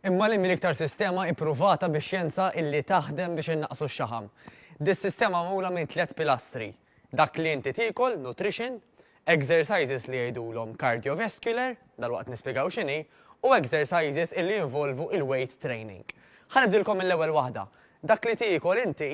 Imma li minn iktar sistema ippruvata bi xjenza illi taħdem biex innaqsu x-xaħam. Dis-sistema magħmula minn tliet pilastri, dak li inti tiekol, nutrition, exercises li jgħidulhom cardiovascular, dalwaqt nispjegaw x'inhi, u exercises illi jinvolvu il-weight training. Ħa nibdilkom mill-ewwel waħda. Dak li tiekol inti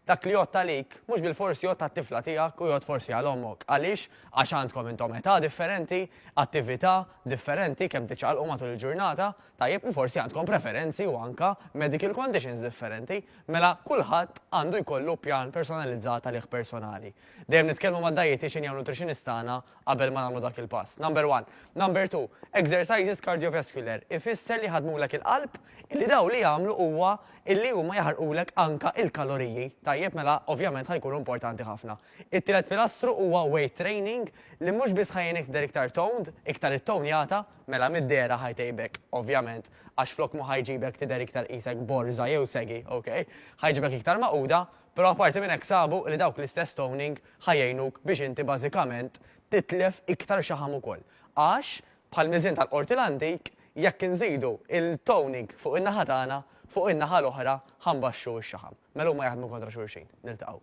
Dak li jgħodd għalik, mhux bilfors jgħodd għat-tifla tiegħek u jgħodd forsi għal ommok. Għaliex? Għax għandkom intom età differenti, attività differenti, kemm tiċċaqalqu matul il-ġurnata, tajjeb, u forsi għandkom preferenzi u anke medical conditions differenti. Mela, kulħadd għandu jkollu pjan personalizzat għalih personali. Dejjem nitkellmu mad-dajjetiċin jew nutritionist tagħna qabel ma nagħmlu dak il-pass. Number one. Number two, exercises cardiovascular ifisser li jħaddmulek il-qalb illi dawn li jagħmlu huwa illi huma jaħarqulek anka il-kaloriji. Tajjeb mela ovvjament ħa jkunu importanti ħafna. It-tielet pilastru huwa weight training li mhux biss ħa jgħinek tidher iktar toned, iktar ittonjata, mela mid-dehra ħa jtejbek ovvjament għax flok ma ħa jġibek tidher iktar qisek borża jew segi, okay? Ħa jġibek iktar magħquda, Però apparti minn hekk sabu li dawk l-istess toning ħa jgħinuk biex inti bażikament titlef iktar xaħam ukoll. Għax, bħall-miżien tal-Qorti l-antik, jekk inżidu il-toning fuq in-naħa tagħna, fuq in-naħa l-oħra ħa nbaxxu x-xaħam. Mela huma jaħdmu kontra xulxin. Niltaqgħu.